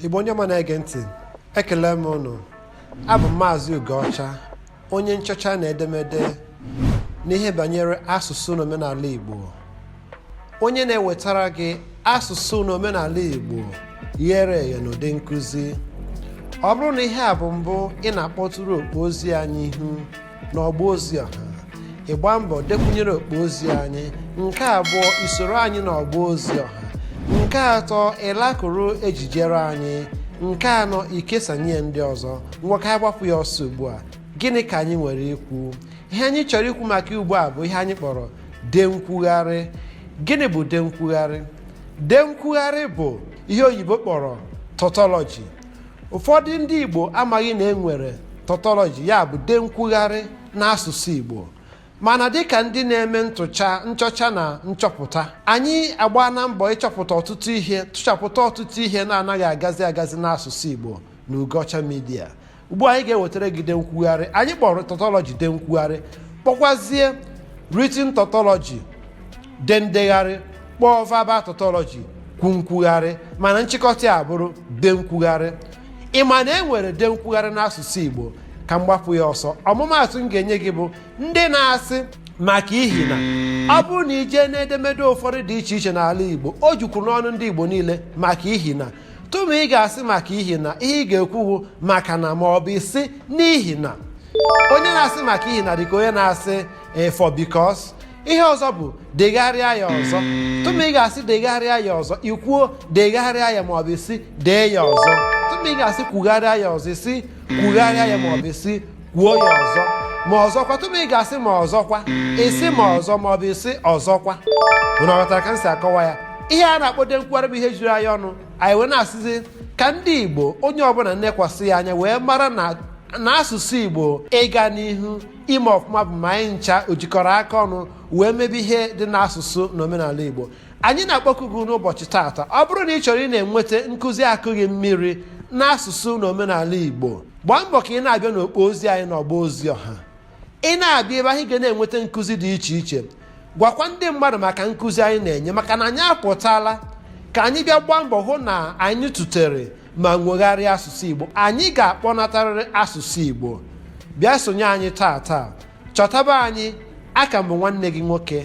igbo ndị ọma na-ege ntị ekele m ụnụ abụ m maazị ugoọcha onye nchọcha na edemede n'ihe banyere asụsụ na omenala igbo onye na-ewetara gị asụsụ na omenala igbo ghere eghe n'ụdị nkụzi ọ bụrụ na ihe a bụ mbụ ị na-akpọtụrụ okpo ozi anyị ihu n'ọgba ozi ọha ị gbaa mbọ dekwunyere okpo ozi anyị nke abụọ i soro anyị n'ọgba ozi ọha nke atọ ịlakụrụ ejijere anyị nke anọ ikesanye ndị ọzọ ngwa ka anyị gbapụ ya ọsọ ugbu a gịnị ka anyị nwere ikwu ihe anyị chọrọ ikwu maka ugbu a bụ ihe anyị kpọrọ de nkwugharị gịnị bụ de nkwugharị de nkwugharị bụ ihe oyibo kpọrọ tautology ụfọdụ ndị Igbo amaghị na e nwere tautology ya bụ de nkwugharị n'asụsụ Igbo mana dịka ndị na-eme ntụcha nchọcha na nchọpụta anyị agbaana mbọ ịchọpụta ọtụtụ ihe tụchapụta ọtụtụ ihe na-anaghị agazi agazi n'asụsụ Igbo na Ugoọcha Media ugbu a anyị ga-ewetara gị de nkwugharị anyị kpọrọ tautology de nkwugharị kpọkwazie written tautology de ndegharị kpọọ verbal tautology kwu nkwugharị mana nchịkọta ya bụrụ de nkwugharị ị ma na e nwere de nkwugharị n'asụsụ igbo ka m gbapụ ya ọsọ ọmụmaatụ m ga-enye gị bụ ndị na-asị maka ihi na ọ bụrụ na i jee n'edemede ụfọdụ dị iche iche n'ala igbo o jukwuru n'ọnụ ndị igbo niile maka ihi na tụma ị ga-asị maka ihi na ihe ị ga-ekwu bụ maka na ma ọ bụ ị sị n'ihi na onye na-asị maka ihi na dịka onye na-asị eh, for because ihe ọzọ bụ degharịa ya ọzọ tụma ị ga-asị degharịa ya ọzọ i kwuo degharịa ya maọbụ ị sị dee ya ọzọ tụma ị ga-asị kwugharịa ya ọzọ ị sị kwugharịa ya maọbụ ị sị kwuo ya ọzọ ma ọzọkwa tụma ị ga-asị ma ọzọkwa ị sị ma ọzọ maọbụ ị sị ọzọkwa unu aghọtara ka m si akọwa ya ihe a na-akpọ de nkwugharị bụ ihe juru anyị ọnụ anyị wee na-asịzi ka ndị igbo onye ọbụla nekwasị ya anya wee mara na asụsụ igbo ịga n'ihu ime ọfụma bụ ma anyị ncha o jikọrọ aka ọnụ wee mebe ihe dị n'asụsụ na omenala igbo anyị na-akpọku gị n'ụbọchị taata ọ bụrụ na ị chọrọ ị na-enweta nkụzi akụghị mmiri n'asụsụ na omenala igbo gbaa mbọ ka ị na-abịa n'okpo ozi anyị n'ọgba ozi ọha ị na-abịa ebe ahụ ị ga na-enweta nkụzi dị iche iche gwakwa ndị mmadụ maka nkụzi anyị na-enye maka na anyị apụtala ka anyị bịa gbaa mbọ hụ na anyị tụtere ma nwegharịa asụsụ Igbo anyị ga-akpọnatarịrị asụsụ Igbo bịa sonye anyị taa taa chọtaba anyị aka m bụ nwanne gị nwoke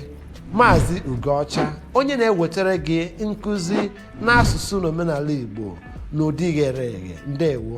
Maazị Ugoọcha onye na-ewetara gị nkụzi n'asụsụ na omenala Igbo n'ụdị ghere eghe ndewo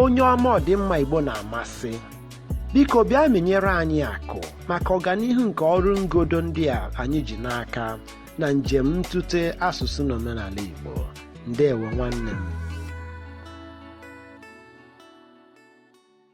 onye ọma ọdịmma Igbo na-amasị biko bịa menyere anyị akụ maka ọganihu nke ọrụ ngodo ndị a anyị ji n'aka na njem ntụte asụsụ na omenala Igbo ndewo nwanne m